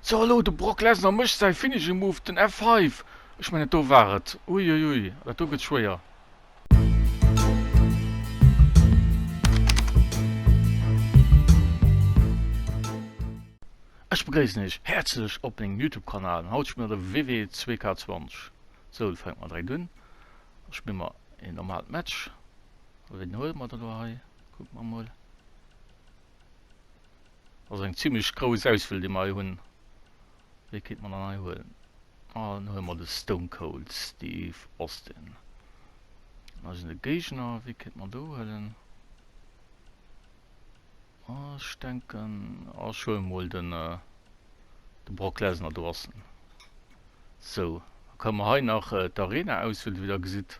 So hallo, de Brock Lesnar mécht säi Finishing Move, den F5. Ech mengen, do war et. Uiuiui, dat do gëtt schwéier. Ech begréissen iech häerzlech op mengem YouTube-Kanal. Haut spille mer de WW 2K20. Soul fänkt mat 3 un. Da spille mer een normaalt Match. Ween huele mer da lo hei? Kucke mer emol. Also eng ziemlech grouss Auswiel déi mer hei hunn. Wéi kéint mer dann hei huelen? Ah dann huele mer de Stone Cold Steve Austin. Hei sinn de Géigner, wéi kéint mer do huelen? Ah ech denken, ah ech huele mol den de Brock Lesnar do ass en. Sou, da kënne mer hei nach d'Arena auswielen, wéi der gesitt.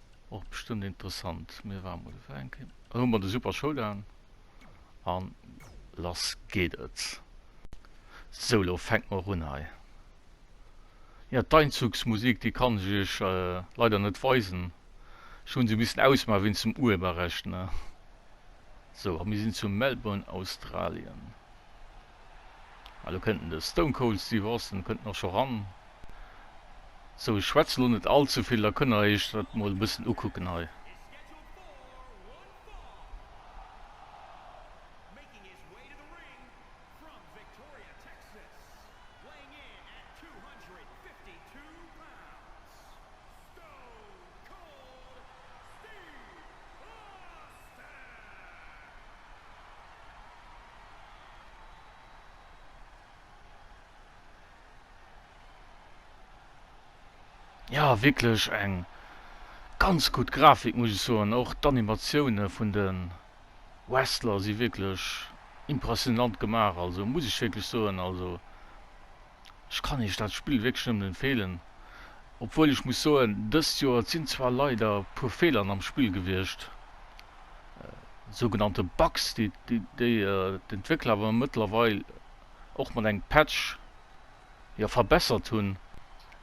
Och bestëmmt interessant. Mir waren mol feieren ginn. Hu mer de super Showdown an lass geet et. Sou lo fänkt mer och un hei. Jo d'Einzugsmusik déi kann ech iech leider net weisen. Ech hunn se missen ausmaachen wéinst dem Urheberrecht ne. Sou a mir sinn zu Melbourne, Australien. Elo kënnt den Stone Cold Steve Austin kënnt och scho ran. Sou ech schwätz elo net all ze vill, da kënnt der iech dat mol e bëssen ukucken hei. Ja wierklech eng ganz gutt Grafik muss ech soen, och d'Animatioune vun de Wrestler si wierklech impressionant gemaach, also muss ech wierklech soen also. Ech kann Iech dat Spill wierklech nëmmen empfeelen, obwuel ech muss soen, dëst Joer, et sinn zwar leider e puer Fehlern am Spill gewiescht, sougenannte Bugs, déi d'Entwéckler awer mëttlerweil och mat engem Patch, jo, verbessert hunn.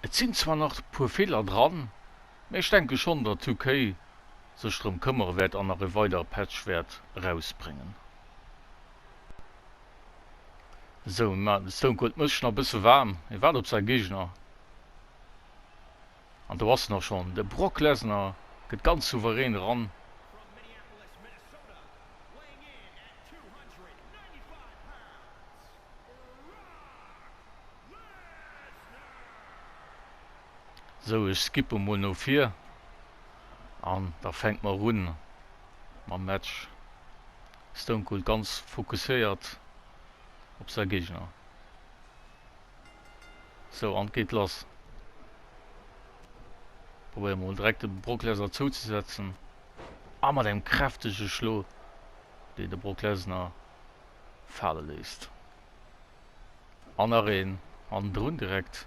Et sinn zwar nach e puer Feeler dran, mä ech denke schonn, datt 2K sech drëm këmmere wäert an nach e weidere Patch wäert erausbréngen. Sou, mä de Stone Cold mécht nach e bësse waarm. Hie waart op säi Géigner. An do ass en och schonn. De Brock Lesnar gëtt ganz souverän eran. Sou, ech skippe mol no vir. An da fänkt mer un mam Match. Stone Cold ganz fokusséiert op säi Géigner. Sou, an 't geet lass. Probéier mol direkt de Brock Lesnar zouzesetzen. A mat engem kräftege Schlo, deen de Brock Lesnar fale léisst. An nach een hannendrun direkt.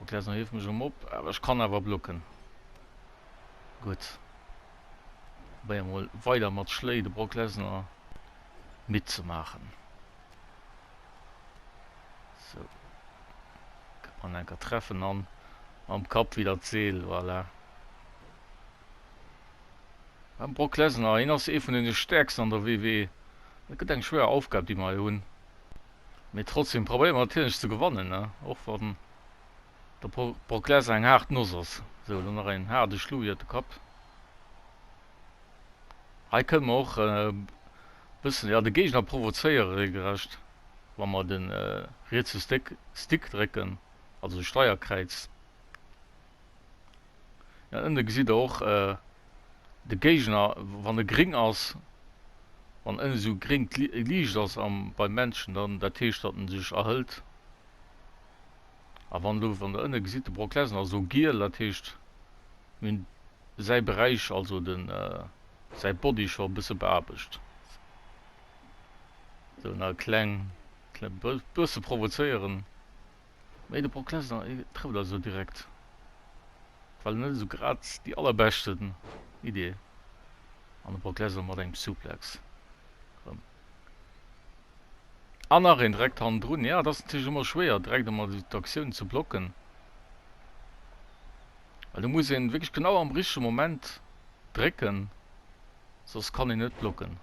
Ok, also hief mech um op, awer ech kann awer blocken. Gutt. Probéier mol weider mat Schléi de Brock Lesnar midd ze maachen. So. Kann man enker treffen an am Kapp wieder d'Seel, voilà. Am Brock Lesnar, hien ass ee vun den Stärksten an der WW. E gëtt eng schwéier Aufgab, déi mer hei hunn. Mee trotzdem probéiere mer natierlech ze gewannen, och wann der Brock Lesnar eng haart Noss ass. Sou, elo nach een haarde Schluck iert de Kapp. Hei kënne mer och e bëssen, ja, de Géigner provozéiere reegelrecht, wa mer de rietse Stick drécken, also de Steierkräiz. Ja ënne gesitt der och de Géigner, wann e gréng ass, wann ënne sou gréngt Liicht ass am beim Männchen, dann dat heescht datt en sech erhëlt. A wann elo, wann der ënne gesitt, de Brock Lesnar ass elo giel, dat heescht mir hunn säi Beräich, also de säi Body scho e bësse beaarbecht. Sou nach e kleng, kleng bësse provozéieren. Mee de Brock Lesnar e trëfft also direkt well net esou grad déi allerbeschten Idee an de Brock Lesnar mat engem Suplex rëm an nach een direkt hannendrun. Jo et ass natierlech ëmmer schwéier direkt ëmmer esou d'Aktioun ze blocken well do muss een wierklech genau am richtege Moment drécken soss kann een net blocken.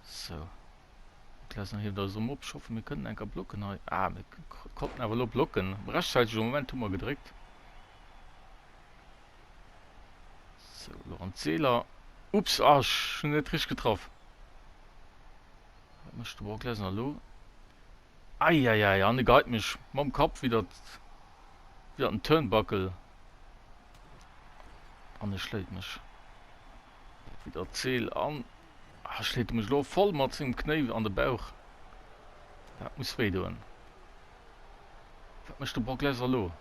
Sou. Mir lassen hei da Somm op. Ich hoffe mir kënnen enker blocken hei. Ah, mir konnten awer lo blocken. Am rechtzeitige Moment hu mer gedréckt. So, lo an d'Seeler. Ups, ah, ich hun net richtig getraff. Wat mëscht de Brock Lesnar lo? Eieiei, an e geit mech mam Kapp wieder wieder den Turnbuckle. An e schléit mech wieder d'Seel an Hei schléit e mech elo voll mat sengem Knéi an de Bauch. Dat muss wéi doen. Wat mécht de Brock Lesnar elo?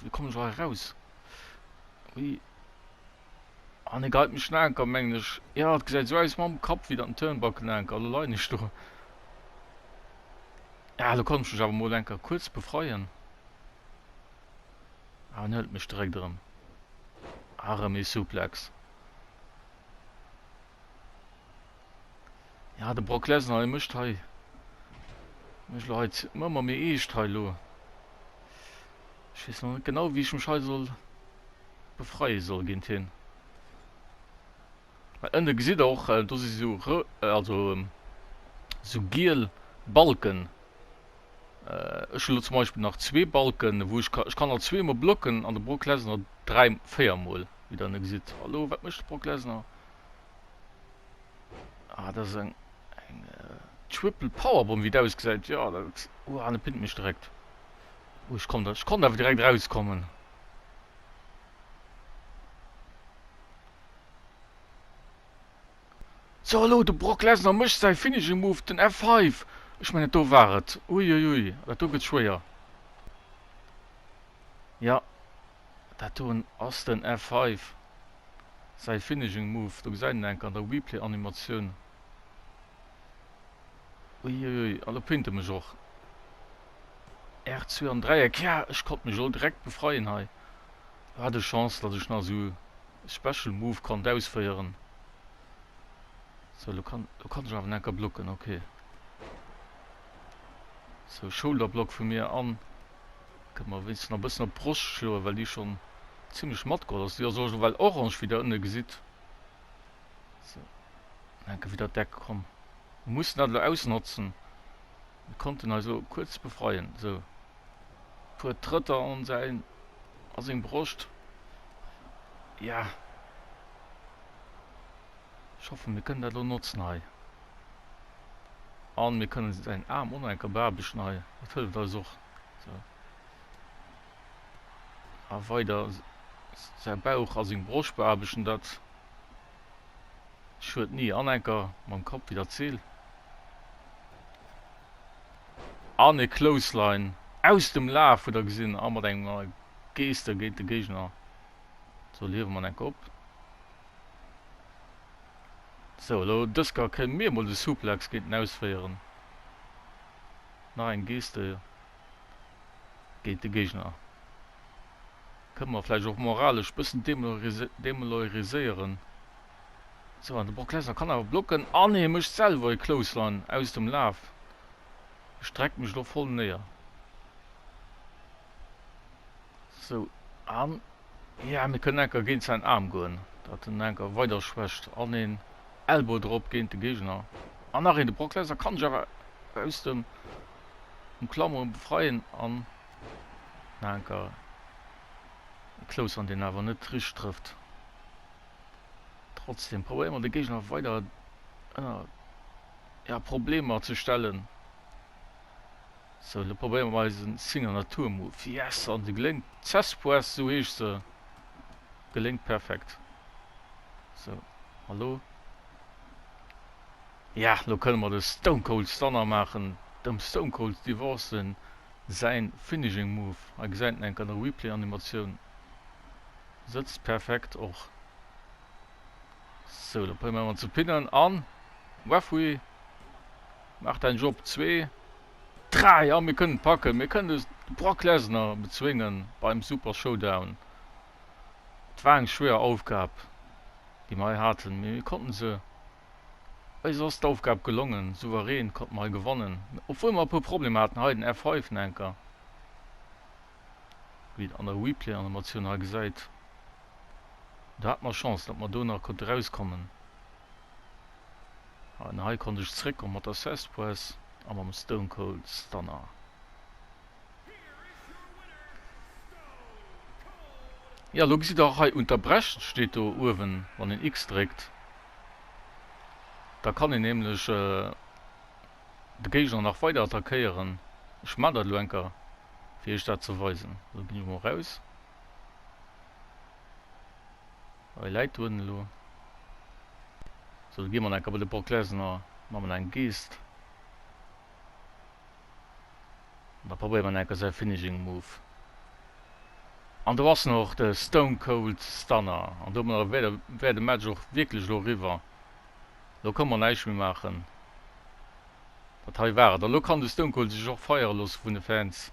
Wéi kommen ech hei eraus? Ui. An e geit mech Anker, mengen ech. Ja, et gesäit esou aus mam Kapp wéi dat en Turnbuckle-Anker. Elo leien ech do. Ja, elo kann ech mech awer mol enker kuerz befreien. an hëlt mech direkt erëm. A rëm ee Suplex. Ja, de Brock Lesnar, dee mécht hei, mécht lo hei ëmmer méi eescht hei lo. Ech weess nach net genau, wéi ech mech hei soll befreie soll géint hien. Hei ënne gesitt der och, do si sou rou, also sou giel Balken. Ech hunn elo zum Beispill nach zwee Balken, wou ech ka, ech kann alt zwee mol blocken an de Brock Lesnar dräi, véier mol, wéi der ënne gesitt. Elo, wat mécht de Brock Lesnar? Ah, dat ass eng, eng Triple Powerbomb, wéi et ausgesäit. Jo, dat, uah, dat pinnt mech direkt. Oh, ech konnt, ech konnt awer direkt erauskommen. So hallo, de Brock Lesnar mécht säi Finishing Move, den F5. Ech mengen, do war et. Ui, ui, ui, dat do gëtt schwéier. Ja, dat do ass den F5, säi Finishing Move. Do gesäit een enk an der Replay-Animatioun. Ui, ui, ui, a lo pinnt e mech och. R2 am Dräieck, ja, ech konnt mech elo direkt befreien hei. Hat ech Chance dass ech nach sou e special move konnt ausféieren. Sou lo kann lo kann ech awer necker blocken ok. Sou shoulder block vu mir an kënnt mer wéinstens nach bëssen op d'Broscht schloen well déi schon zimlech matgeholl ass. Déi ass och ewell orange wéi der ënne gesitt. Sou, enke widder d'Deck komm. Muss dat lo ausnotzen. Mir konnten eis elo kuerz befreien, esou puer Trëtter an säin a seng Broscht. Ja, ech hoffen, mir kënnen dat elo notzen hei. An mir kënnen säin Aarm o no enker beaarbechten hei, dat hëlleft eis och. Esou. A weider säi Bauch a seng Broscht beaarbechten, dat. Schued ni an enker mam Kapp wider d'Zil. An e Clothesline aus dem Laf huet der gesinn a mat engem neie Geste géint de Géigner. Sou liewe mer enker op. Sou elo dësker kënne mir mol de Suplex géint en ausféieren. Nach eng Geste géint de Géigner. Kënne mer vläicht och moralesch bëssen demeloiriséieren. Sou, an de Brock Lesnar kann awer blocken an hie mécht selwer e Clothesline aus dem Laf. Ech dreck mech lo voll néier. Sou, an ja, mir kënnen enker géint säin Aarm goen, dat en enker weider schwächt, an een Elbow drop géint de Géigner. An nach een, de Brock Lesnar kann sech awer aus dem um Klameren befreien an nach enker e Close an deen awer net richt trëfft. Trotzdem probéieren wir de Gegner weider ënner ja, Problemer ze stellen. So, lo probéieren wir eisen Singer Natur Move. Yes, an de geléngt. Zespoes, so heescht se. Geléngt perfekt. So, hallo. Ja, lo kënne mer de Stone Cold Stunner maachen, dem Stone Cold Steve Austin säin Finishing Move. Hei gesäit en enk an der Replay Animatioun, sëtzt perfekt och. Sou, lo probéiere mer en ze pinnen an Referee maacht ein Job, zwee, dräi a mir kënnen et packen, mir kënnen de Brock Lesnar bezwéngen beim Super Showdown. Et war eng schwéier Aufgab déi mer hei haten, mee mir konnten se Eis ass d'Aufgab gelongen, souverän konnten mer hei gewannen, obwuel mer e puer Problemer haten hei, den F5 en enker, wéi een an der Replay-Animatioun hei gesäit, do hate mer Chance, datt mer do nach konnte rauskommen. An hei konnt ech zréckkomme mat der Cespedes a mam Stone Cold Stunner. Jo, lo gesitt der och hei, Unterbrechen steet do uewen, wann een X dréckt. Da kann een nämlech de Géigner nach weider attackéieren. Ech maan dat elo eng Kéier fir iech dat ze weisen. Sou, gin ech mol raus. Hei läit do en elo. Sou, da gi mer eng Kéier bei de Brock Lesnar, man en eng Geest. An da probéiert en enke säi Finishing Move. An do ass en och, de Stone Cold Stunner. An domadder wär de Match och wierklech elo eriwwer. Elo ka mer näischt méi maachen. Dat hei war et. An elo kann de Stone Cold sech och feiere loosse vun de Fans.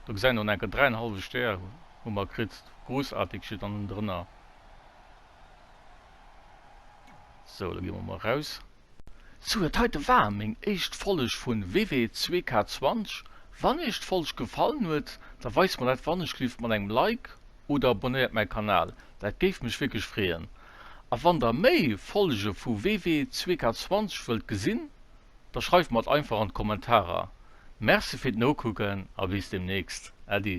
Do gesäit en och en enke, dräi en hallwe Stär hu mer kritt. Groussartig steet dann ënnendrënner. Sou, elo gi mer mol eraus. Sou huet heite war meng éischt Folg vun WW2K20, wann iech d'Folg gefallen huet da weist mer dat wannechlift mat engem Like oder abonnéiert mäi Kanal, dat géif mech wierklech freeën. A wann der méi Folge vu WW2K20 wëllt gesinn da schreift mer et einfach an d'Kommentarer. Merci fir d'Nokucken a bis demnächst, Äddi.